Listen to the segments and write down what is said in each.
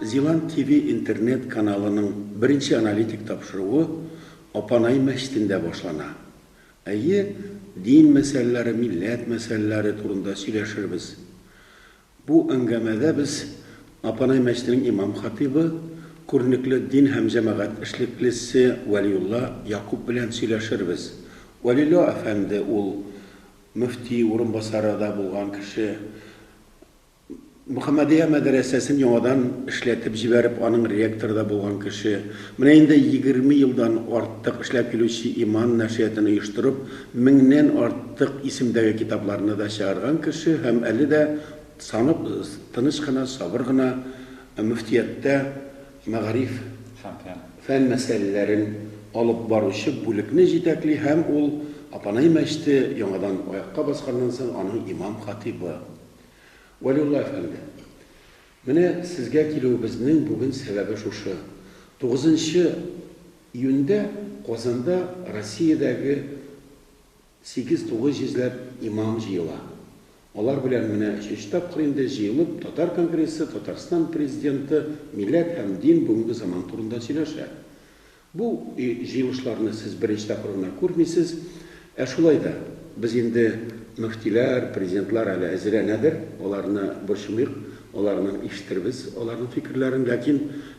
Зилант ТВ интернет каналының беренче аналитик тапшыруы Апанай мәчетендә башлана. Әйе, дин мәсьәләләре, милләт мәсьәләләре турында сөйләшербез. Бу әңгәмәдә без Апанай мәчетенең имам-хатыйбы, күренекле дин һәм җәмәгать эшлеклесе Вәлиулла Якуп белән сөйләшербез. Вәлилла әфәнде ул мөфти урынбасары да булган кеше. Мөхәммәдия мәдрәсәсен яңадан эшләтеп җибәреп, аның ректоры да булган кеше, менә инде егерме елдан артык эшләп килүче иман нәшрияттан оештырып, меңнән артык исемдәге китапларны да чыгарган кеше һәм әле дә санап тыныч кына, сабыр гына мөфтияттә мәгариф фән мәсьәләләрен алып баручы бүлекне җитәкли һәм ул Апанай мәчете яңадан аякка басканнан соң аның имам-хатыйбы. Вәлиулла әфәнде! Менә сезгә килүебезнең бүген сәбәбе шушы. Тугызынчы июньдә Казанда Россиядәге сигез тугыз җизләп имам җыела. Алар белән менә өченче тапкыр инде җыелып Татар конгрессы Татарстан Президенты милләт һәм дин бүгенге заман турында сөйләшә. Бу җыелышларны сез беренче тапкыр гына күрмисез. Ә шулай да, без инде мөфтиләр, президентлар әле әзерләнәдер, аларны борчымыйк, аларның ишетербез аларның фикерләрен. Ләкин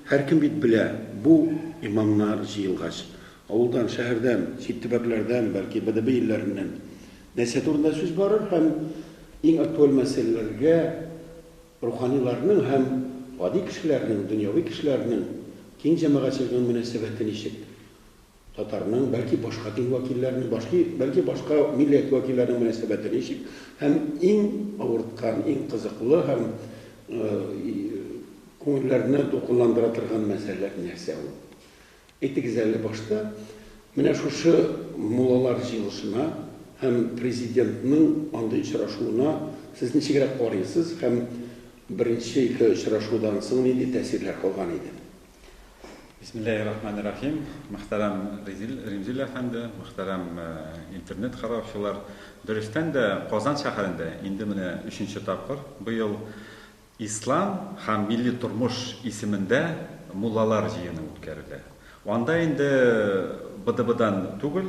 һәркем бит белә, бу имамнар җыелгач, авылдан, шәһәрдән, чит төбәкләрдән, бәлки БДБ илләреннән нәрсә турында сүз барыр һәм иң актуаль мәсьәләләргә Руханиларның һәм гади кешеләрнең, дөньяви кешеләрнең дин җәмәгатьчелегенең мөнәсәбәте ничек? Татарның, бәлки башка дин вәкилләренең, башки, бәлки башка милләт вәкилләренең мөнәсәбәте ничек? Һәм иң авырткан, иң кызыклы һәм күңелләрне дулкынландыра торган мәсьәләләр нәрсә ул? Әйтегез әле, башта менә шушы муллалар җыелышына һәм Президентның андый очрашуына сез ничегрәк карыйсыз һәм беренче ике очрашудан соң нинди тәэсирләр калган иде? Бисмиллаһи-рахмани-рахим. Мөхтәрәм Резил, Римзил әфәнде, мөхтәрәм интернет караучылар. Дөрестән дә, Казан шәһәрендә инде менә өченче тапкыр быел Ислам һәм милли тормыш исемендә муллалар җыены үткәрелә. Анда инде БДБдан түгел,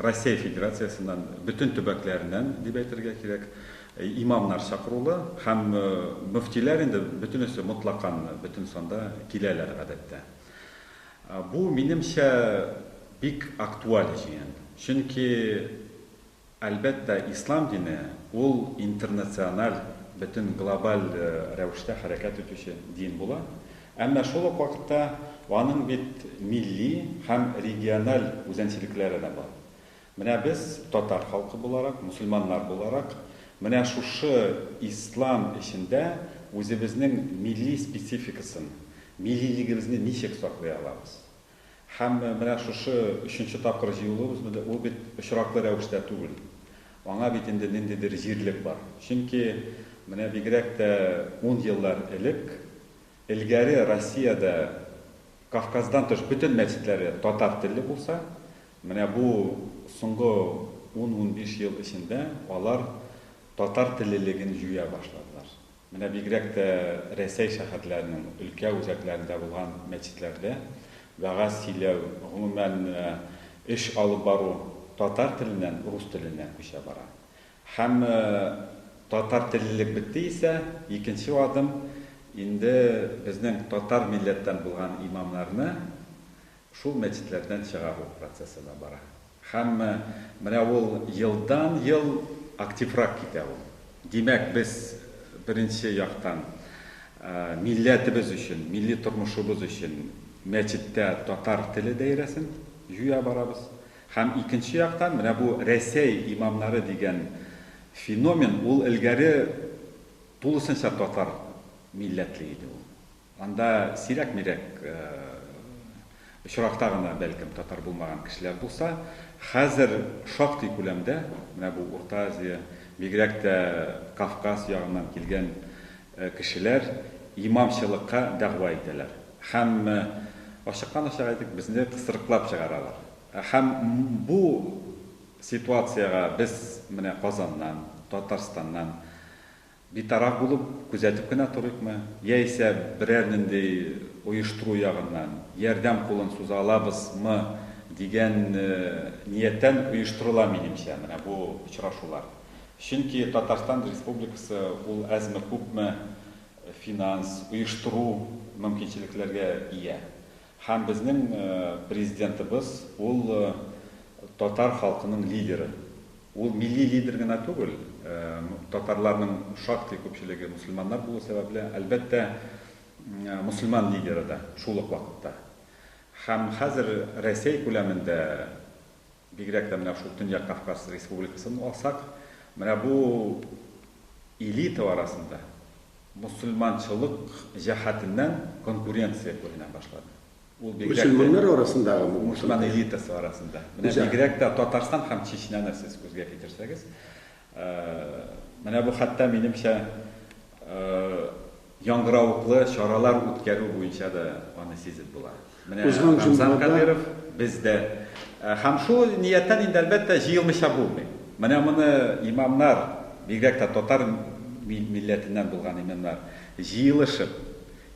Россия Федерациясеннән, бөтен төбәкләреннән дип әйтергә кирәк, имамнар чакырулы һәм мөфтиләр инде бөтенесе мотлакан бөтен санда киләләр гадәттә. Бу, минемчә, бик актуаль җыен. Чөнки Әлбәттә, ислам дине, ул интернациональ, бөтен глобаль рәвештә хәрәкәт итүче дин була. Әмма шул ук вакытта аның бит милли һәм региональ үзәнчелекләре дә бар. Менә без, татар халкы буларак, мөселманнар буларак, менә шушы ислам эчендә үзебезнең милли спецификасын, миллилегебезне ничек саклый алабыз? Һәм менә шушы өченче тапкыр җыелуыбыз бит, ул бит очраклы рәвештә түгел. Аңа бит инде ниндидер җирлек бар. Чөнки менә бигрәк тә ун еллар элек, элгәре Россиядә Кавказдан тыш бөтен мәчетләре татар телле булса, менә бу соңгы ун-унбиш ел эчендә алар татар теллелеген җуя башладылар. Менә бигрәк тә Рәсәй шәһәрләренең өлкә үзәкләрендә булган мәчетләрдә вәгазь сөйләү, гомумән, эш алып бару татар теленнән рус теленә күчә бара. Һәм татар теллелек бетте исә, икенче адым, инде безнең татар милләттән булган имамнарны Шул мәчетләрдән чыгару процессы да бара. Һәм менә ул елдан-ел активрак китә ул. Димәк, без, беренче яктан, милләтебез өчен, милли тормышыбыз өчен мәчеттә татар теле даирәсен җуя барабыз. Һәм икенче яктан, менә бу Рәсәй имамнары дигән феномен, ул элгәре тулысынча татар милләтле иде ул. Анда сирәк-мирәк очракта гына, бәлкем, татар булмаган кешеләр булса, хәзер шактый күләмдә менә бу Урта Азия, бигрәк тә Кавказ ягыннан килгән кешеләр имамчылыкка дәгъва итәләр һәм, ачыктан-ачык әйтик, безне кысрыклап чыгаралар. Һәм бу ситуациягә без менә Казаннан, Татарстаннан, Битараф булып, күзәтеп кенә торыйкмы, яисә берәр нинди оештыру ягыннан ярдәм кулын суза алабыз мы дигән нияттән оештырыла, минемчә, менә бу очрашулар. Чөнки Татарстан Республикасы ул әзме-күпме финанс, оештыру мөмкинчелекләргә ия. Һәм безнең Президентыбыз, ул татар халкының лидеры. Ул милли лидер генә түгел, татарларның шактый күпчелеге мөселманнар булу сәбәпле, әлбәттә, мөселман лидеры да шул ук вакытта. Һәм хәзер Рәсәй күләмендә, Бигрәк тә менә шул Төньяк Кавказ республикасын алсак, менә бу элита арасында мөселманчылык җәһәтеннән конкуренция күренә башлады. Ул бигрәк тә Мөселманнар арасындагы бу? Мөселман элитасы арасында. Менә бигрәк тә Татарстан һәм Чечняны сез күзгә китерсәгез, менә бу хәтта минемчә Яңгыравыклы чаралар үткәрү буенча да аны сизеп була. Менә Рамзан Кадыйров бездә. Һәм шул нияттән инде, әлбәттә, җыелмыйча булмый. Менә моны имамнар, бигрәк тә татар милләтеннән булган имамнар, җыелышып,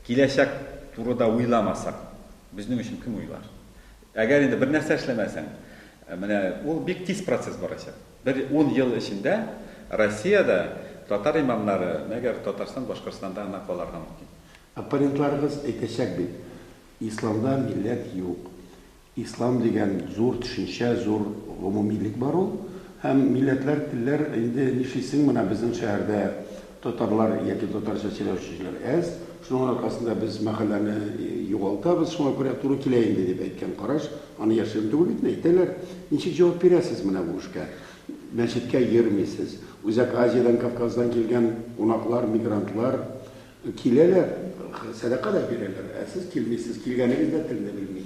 киләчәк турыда уйламасак, безнең өчен кем уйлар? Әгәр инде бернәрсә эшләмәсәң, менә ул бик тиз процесс барачак. Бер ун ел эчендә Россиядә татар имамнары, мәгәр Татарстан, Башкортстанда гына каларга мөмкин. Оппонентларыгыз әйтәчәк бит, Исламда милләт юк. Ислам дигән зур төшенчә, зур гомумилек бар ул. Һәм милләтләр, телләр, инде нишлисең, менә безнең шәһәрдә Татарлар яки татарча сөйләүчеләр әз, шуның аркасында без мәхәлләне югалтабыз, шуңа күрә туры килә инде, дип әйткән караш, аны яшерен түгел бит, әйтәләр. Ничек җавап бирәсез менә бу эшкә? Мәчеткә йөрмисез. Үзәк Азиядән, Кавказдан килгән кунаклар, мигрантлар киләләр, сәдака да бирәләр, ә сез килмисез, килгәнегез дә телне белми.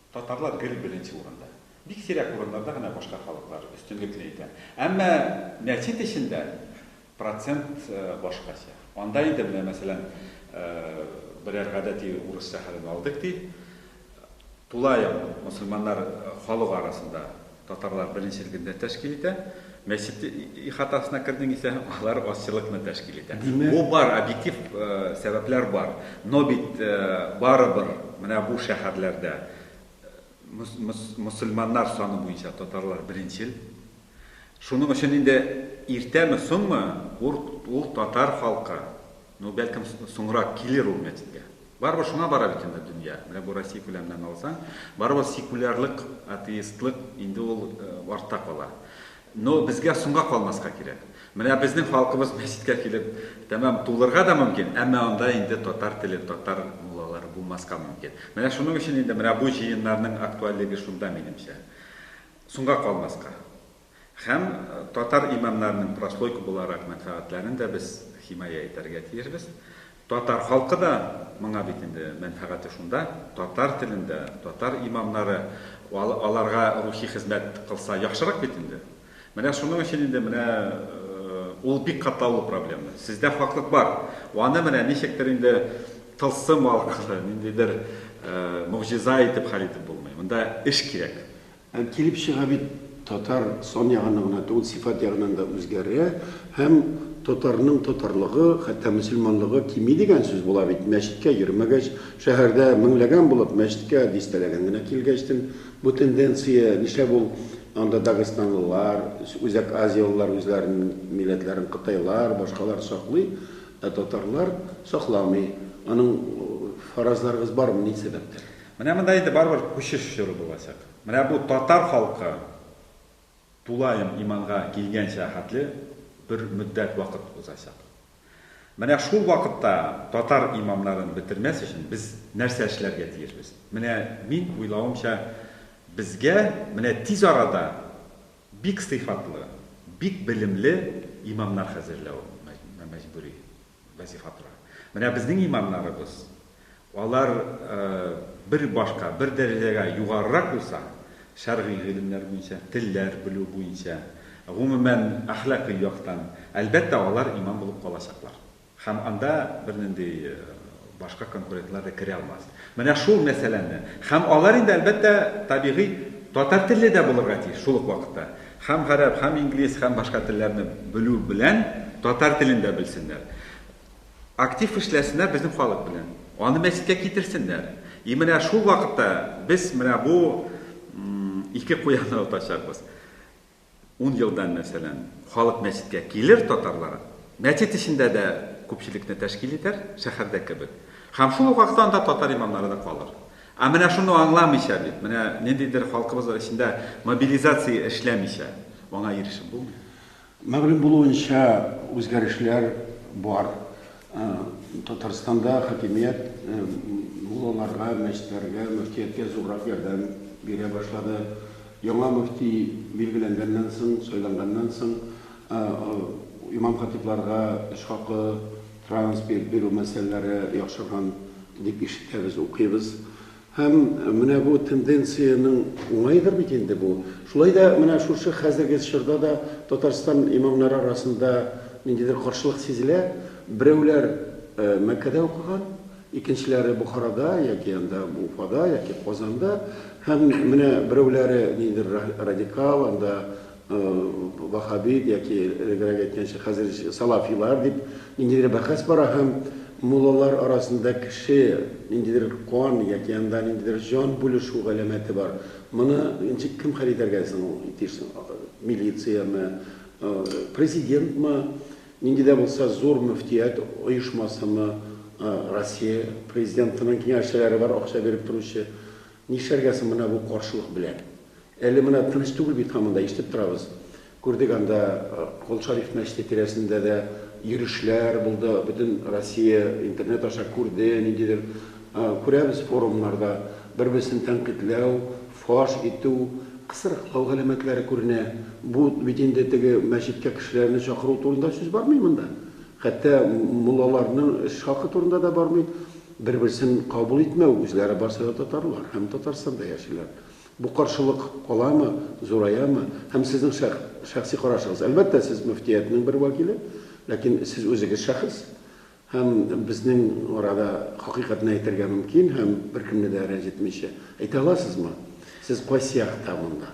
Татарлар гел беренче урында. Бик сирәк урыннарда гына башка халыклар өстенлекне итә. Әмма нәчет эчендә процент башкача. Анда инде, менә мәсәлән, берәр гадәти урыс шәһәрен алдык, ди. Тулаем мөселманнар халык арасында Татарлар беренче өлгедә тәшкил итә. Мәчет ихатасына кердең исә, алар азчылыкны тәшкил итә. Димәк... Бу бар, объектив сәбәпләр бар. Но бит барыбер менә бу шәһәрләрдә мөселманнар саны буенча татарлар беренчел. Шуның өчен инде иртәме-соңмы ул татар халкы Ну, бәлкем, соңрак килер ул мәчеткә. Барыбер шуңа бара бит инде дөнья. Менә бу Россия күләменнән алсаң, барыбер секулярлык, атеистлык инде ул э, артта кала. Но безгә соңга калмаска кирәк. Менә безнең халкыбыз мәчеткә килеп, тәмам тулырга да мөмкин, әмма анда инде татар теле, татар муллалары булмаска мөмкин. Менә шуның өчен инде менә бу җыеннарның актуальлеге шунда, минемчә. Соңга калмаска. Һәм татар имамнарының прослойка буларак мәнфәгатьләрен дә без химая итәргә тиешбез. Татар халкы да моңа бит инде мәнфәгате шунда, татар телендә, татар имамнары аларга рухи хезмәт кылса яхшырак бит инде. Менә шуның өчен инде менә ул бик катлаулы проблема. Сездә хаклык бар. Аны менә ничектер инде тылсым аркылы, ниндидер могҗиза итеп хәл итеп булмый. Монда эш кирәк. Ә килеп чыга бит, татар сан ягыннан гына түгел, сыйфат ягыннан да үзгәрә һәм татарның татарлыгы, хәтта мөселманлыгы кими дигән сүз була бит. Мәчеткә йөрмәгәч, шәһәрдә меңләгән булып, мәчеткә дистәләгән генә килгәчтен, бу тенденция, нишләп ул анда дагыстанлылар, Үзәк Азиялылар үзләренең милләтләрен кытайлар, башкалар саклый, ә татарлар сакламый? Аның фаразларыгыз бармы, ни сәбәптән? Менә монда инде барыбер күчеш чоры булачак. Менә бу татар халкы тулаем иманга килгәнчә хәтле бер мөддәт вакыт узачак. Менә шул вакытта татар имамнарын бетермәс өчен без нәрсә эшләргә тиешбез? Менә мин уйлавымча, безгә менә тиз арада бик сыйфатлы, бик белемле имамнар хәзерләү мәҗбүри. Вазифа тора. Менә безнең имамнарыбыз, алар бер башка, бер дәрәҗәгә югарырак булса, шәргый гыйлемнәр буенча, телләр белү буенча, гомумән, әхлакый яктан, әлбәттә, алар имам булып калачаклар. Һәм анда бернинди Башка конкуретлар да керә алмас. Менә шул мәсьәләне. Һәм алар инде, әлбәттә, табигый, татар телле дә булырга тиеш шул ук вакытта. Һәм гарәп, һәм инглиз, һәм башка телләрне белү белән татар телен дә белсеннәр. Актив эшләсеннәр безнең халык белән. Аны мәчеткә китерсеннәр. И менә шул вакытта без менә бу ике куянны отачакбыз. Ун елдан, мәсәлән, халык мәчеткә килер, татарлар мәчет эчендә дә күпчелекне тәшкил итәр, шәһәрдә кебек. Һәм шул ук вакытта анда татар имамнары да калыр. Ә менә шуны аңламыйча бит, менә ниндидер халкыбыз эчендә мобилизация эшләмичә, аңа ирешеп булмый. Мәгълүм булуынча, үзгәрешләр бар. Татарстанда хакимият муллаларга, мәчетләргә, мөфтияткә зуррак ярдәм бирә башлады. Яңа мөфти билгеләнгәннән соң, сайланганнан соң, имам-хатибларга эш хакы, транспорт бирү мәсьәләләре яхшырган дип ишетәбез, укыйбыз. Һәм менә бу тенденциянең уңаедыр бит инде бу. Шулай да менә шушы хәзерге чорда да Татарстан имамнары арасында ниндидер каршылык сизелә. Берәүләр Мәккәдә укыган, икенчеләре Бохарада яки анда Уфада яки Казанда. Һәм менә берәүләре ниндидер радикал, анда Ваһһабит яки элегрәк әйткәнчә хәзер салафилар дип ниндидер бәхәс бара һәм муллалар арасында кеше ниндидер кан яки анда ниндидер җан бүлешү галәмәте бар. Моны ничек кем хәл итәргә соң ул дисең? Милициямы, президентмы, нинди дә булса зур мөфтият оешмасымы, Россия президентының киңәшчеләре бар акча биреп торучы. Нишләргә соң менә бу каршылык белән? Әле менә дөрес түгел бит һаман да, ишетеп торабыз. Күрдек анда Кол Шариф мәчете тирәсендә дә йөрешләр булды, бөтен Россия интернет аша күрде, ниндидер күрәбез форумнарда бер-берсен тәнкыйтьләү, фаш итү, кысрыклау галәмәтләре күренә. Бу бит инде теге мәчеткә кешеләрне чакыру турында сүз бармый монда. Хәтта муллаларның эш хакы турында да бармый. Бер-берсен кабул итмәү, үзләре барсы да татарлар һәм Татарстанда яшиләр. Бу каршылык каламы, зураямы? Һәм сезнең шәх, шәхси карашыгыз? Әлбәттә, сез мөфтияттнең бер вәкиле, ләкин сез үзегез шәхес. Һәм безнең арада хакыйкатьне әйтергә мөмкин һәм беркемне дә рәнҗетмичә. Әйтә аласызмы? Сез кайсы якта монда?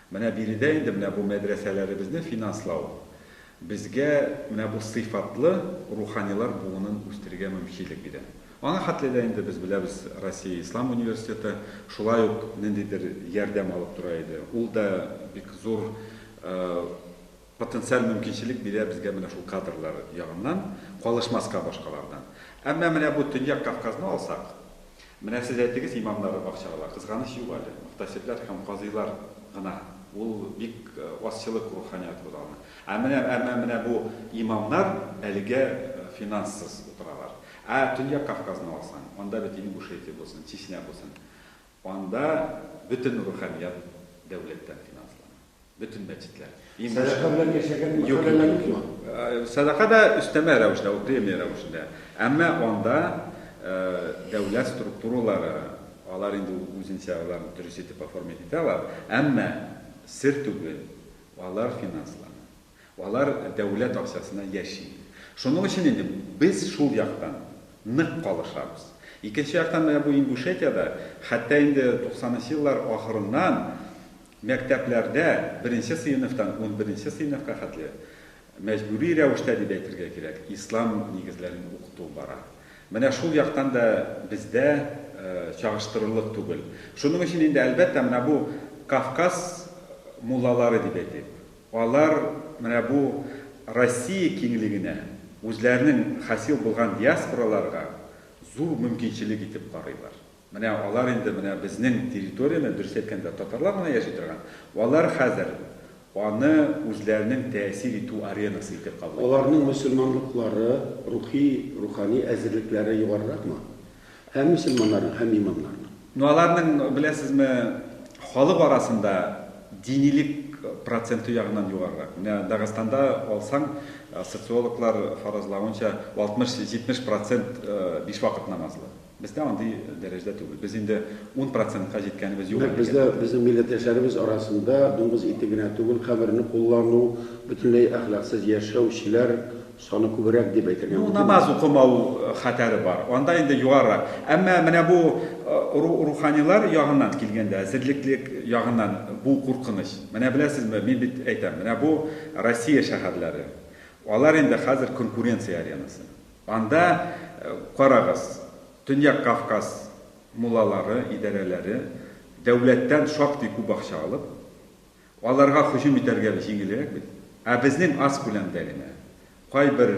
Менә биредә инде менә бу мәдрәсәләребезне финанслау безгә менә бу сыйфатлы руханилар буынын үстерергә мөмкинлек бирә. Аңа хәтле дә инде без беләбез, Россия Ислам университеты шулай ук ниндидер ярдәм алып тора иде. Ул да бик зур Потенциаль мөмкинчелек бирә безгә менә шул кадрлар ягыннан, калышмаска башкалардан. Әмма менә бу Төньяк Кавказны алсак, менә сез әйтегез, имамнары бакчалар, кызганыч юк әле, мөхтәсибләр һәм казыйлар гына, ул бик азчылык руханият ул аны. Ә менә, әмма менә бу имамнар әлегә финанссыз утыралар. Ә Төньяк Кавказны алсаң, анда бит Ингушетия булсын, Чечня булсын, анда бөтен руханият дәүләттән финанслана. Бөтен бәтитләр. Сәдака белән яшәгән мәхәлләләр юкмы? Сәдака да өстәмә рәвештә ул, премия рәвешендә. Әмма анда дәүләт структуралары, алар инде үзенчә алар дөрес итеп оформить итә алар, әмма сер түгел, алар финанслана. Алар дәүләт акчасына яши. Шуның өчен инде без шул яктан нык калышабыз. Икенче яктан, менә бу Ингушетиядә, хәтта инде туксанынчы еллар ахырыннан, Мәктәпләрдә беренче сыйныфтан унберенче сыйныфка хәтле мәҗбүри рәвештә дип әйтергә кирәк, ислам нигезләрен укыту бара. Менә шул яктан да бездә чагыштырырлык түгел. Шуның өчен инде, әлбәттә, менә бу Кавказ муллалары дип әйтик, алар менә бу Россия киңлегенә, үзләренең хасил булган диаспораларга зур мөмкинчелек итеп карыйлар. Менә алар инде менә безнең территорияне, дөрес әйткәндә, татарлар гына яши торган, алар хәзер аны үзләренең тәэсир итү аренасы итеп кабул итәләр. Аларның мөселманлыклары, рухи, рухани әзерлекләре югарыракмы? Һәм мөселманнарның, һәм имамнарның. Ну, аларның, беләсезме, халык арасында динилек проценты ягыннан югарырак. Менә Дагыстанда алсаң, социологлар фаразлавынча, 60-70 процент биш вакыт намазлы. Бездә андый дәрәҗәдә түгел. Без инде ун процентка җиткәнебез юк әлегә. Нәкъ бездә, безнең милләттәшләребез арасында дуңгыз ите генә түгел, камерны куллану, бөтенләй әхлаксыз яшәүчеләр саны күбрәк дип әйтергә мөмкин. Ну, намаз укымау хәтәре бар. Анда инде югарырак. Әмма менә бу руханилар ягыннан килгәндә, эзерлеклек ягыннан бу куркыныч. Менә беләсезме, мин бит әйтәм, менә бу Россия шәһәрләре. Алар инде хәзер конкуренция аренасы. Анда, карагыз, Төньяк Кавказ муллалары, идарәләре, дәүләттән шактый күп акча алып, аларга һөҗүм итәргә җиңелрәк бит. Ә безнең аз күләмдә генә, кайбер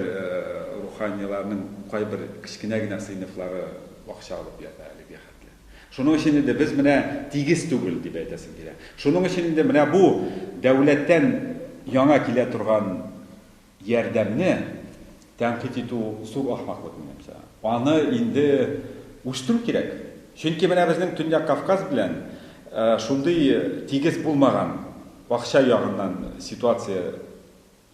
руханиларның кайбер кечкенә генә сыйныфлары акча алып ята әлегә хәтле. Шуның өчен инде без менә тигез түгел, дип әйтәсем килә. Шуның өчен инде менә бу дәүләттән яңа килә торган Ярдәмне тәнкыйть итү зур ахмаклык, минемчә. Аны инде үстерү кирәк. Чөнки менә безнең Төньяк Кавказ белән шундый тигез булмаган акча ягыннан ситуация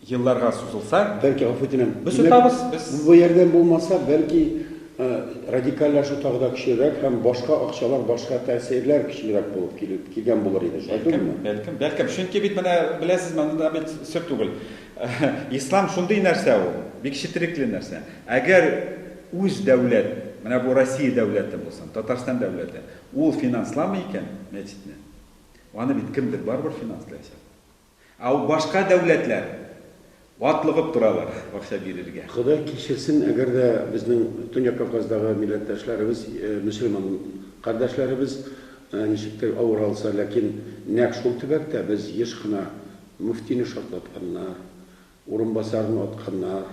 елларга сузылса. Бәлки, гафу үтенәм. Без отабыз, без. Бу ярдәм булмаса, бәлки, радикальләшү тагы да көчлерәк һәм башка акчалар, башка тәэсирләр көчлерәк булып килеп килгән булыр иде. Шулай түгелме? Бәлкем, бәлкем. Чөнки бит менә, беләсезме, анда бит сер түгел. Ислам шундый нәрсә ул, бик четерекле нәрсә. Әгәр үз дәүләт, менә бу Россия дәүләте булсын, Татарстан дәүләте, ул финансламый икән мәчетне, аны бит кемдер барыбер финанслаячак. Ә башка дәүләтләр атлыгып торалар акча бирергә. Ходай кичерсен, әгәр дә безнең Төньяк Кавказдагы милләттәшләребез, мөселман кардәшләребез ничектер авыр алса, ләкин нәкъ шул төбәктә без еш кына Мөфтине шартлатканнар, урынбасарын атканнар,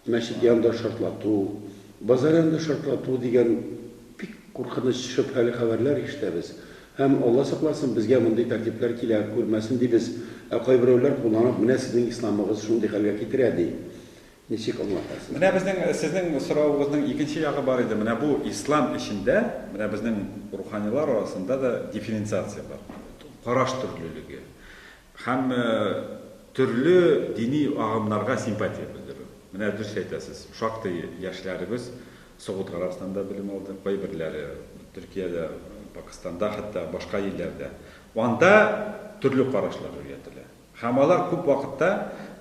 мәчет янында шартлату, базар янында шартлату дигән бик куркыныч, шөбһәле хәбәрләр ишетәбез. Һәм, Алла сакласын, безгә мондый тәртипләр килә күрмәсен дибез, ә кайберәүләр кулланып, менә сезнең исламыгыз шундый хәлгә китерә, ди. Ничек аңлатасыз? Менә безнең, сезнең соравыгызның икенче ягы бар иде. Менә бу ислам эчендә, менә безнең руханилар арасында да дифференциация бар. Караш төрлелеге һәм төрле дини агымнарга симпатия белдерү. Менә дөрес әйтәсез, шактый яшьләребез Согуд Гарәбстанда белем алды, кайберләре Төркиядә, Пакыстанда, хәтта башка илләрдә. Анда төрле карашлар өйрәтелә. Һәм алар күп вакытта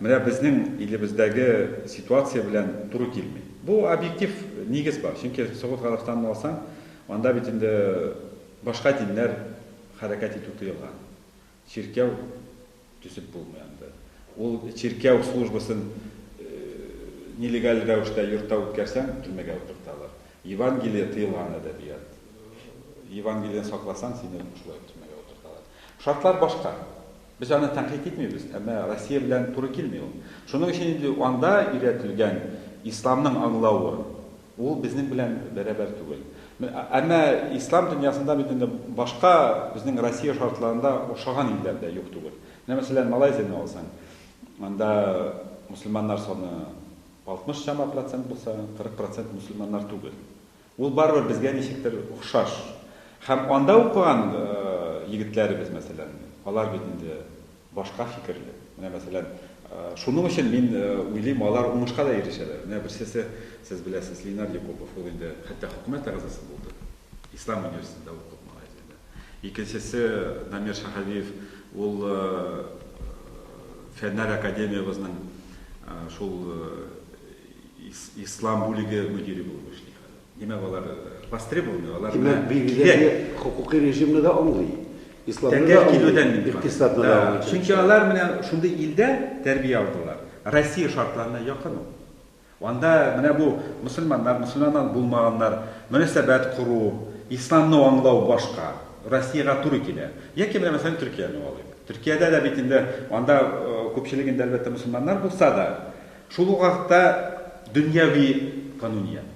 менә безнең илебездәге ситуация белән туры килми. Бу объектив нигез бар, чөнки Согуд Гарәбстанын алсаң, анда бит инде башка диннәр хәрәкәт итү тыелган. Чиркәү төзеп булмый анда. Ул чиркәү службасын нелегаль рәвештә йортта үткәрсәң, төрмәгә утырталар. Евангелие тыелган әдәбият. Евангелиены сакласаң, сине шулай төрмәгә утырталар. Шартлар башка. Без аны тәнкыйть итмибез, әмма Россия белән туры килми ул. Шуның өчен инде анда өйрәтелгән исламның аңлавы, ул безнең белән бәрабәр түгел. Әмма ислам дөньясында бит инде башка безнең Россия шартларында охшаган илләр дә юк түгел. Менә мәсәлән, Малайзияне алсаң, анда мөселманнар саны 60 чама процент булса, 40 процент мөселманнар түгел. Ул барыбер безгә ничектер охшаш. Һәм анда укыган егетләребез, мәсәлән, алар бит инде башка фикерле. Менә, мәсәлән, шуның өчен мин уйлыйм, алар уңышка да ирешәләр. Менә берсесе, сез беләсез, Ленар Якупов, ул инде хәтта хөкүмәт әгъзасы булды. Ислам университетында укып, Малайзиядә. Икенчесе, Намир Шаһәвиев, ул Фәннәр академиябезнең шул Ислам бүлеге мөдире булып эшли хәзер. Димәк, алар востребованный, алар белән кирәк. Димәк, бигеләге хокукый режимны да аңлый. Исламны да аңлый, икътисадны да аңлый. Чөнки алар менә шундый илдә тәрбия алдылар. Россия шартларына якын ул. Анда менә бу мөселманнар, мөселманнан булмаганнар, мөнәсәбәт кору, исламны аңлау башка. Россиягә туры килә. Яки менә мәсәлән Төркияне алыйк. Төркиядә дә бит инде анда күпчелегендә әлбәттә мөселманнар булса да, Шул ук вакытта дөньяви кануният.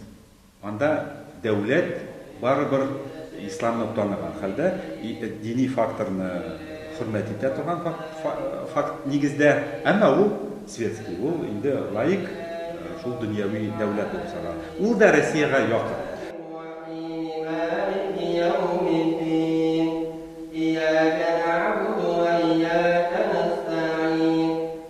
Анда дәүләт барыбер исламны таныган хәлдә, дини факторны хөрмәт итә торган факт нигездә, әмма ул светский, ул инде лаик, шул дөньяви дәүләт булып санала. Ул да Россиягә якын.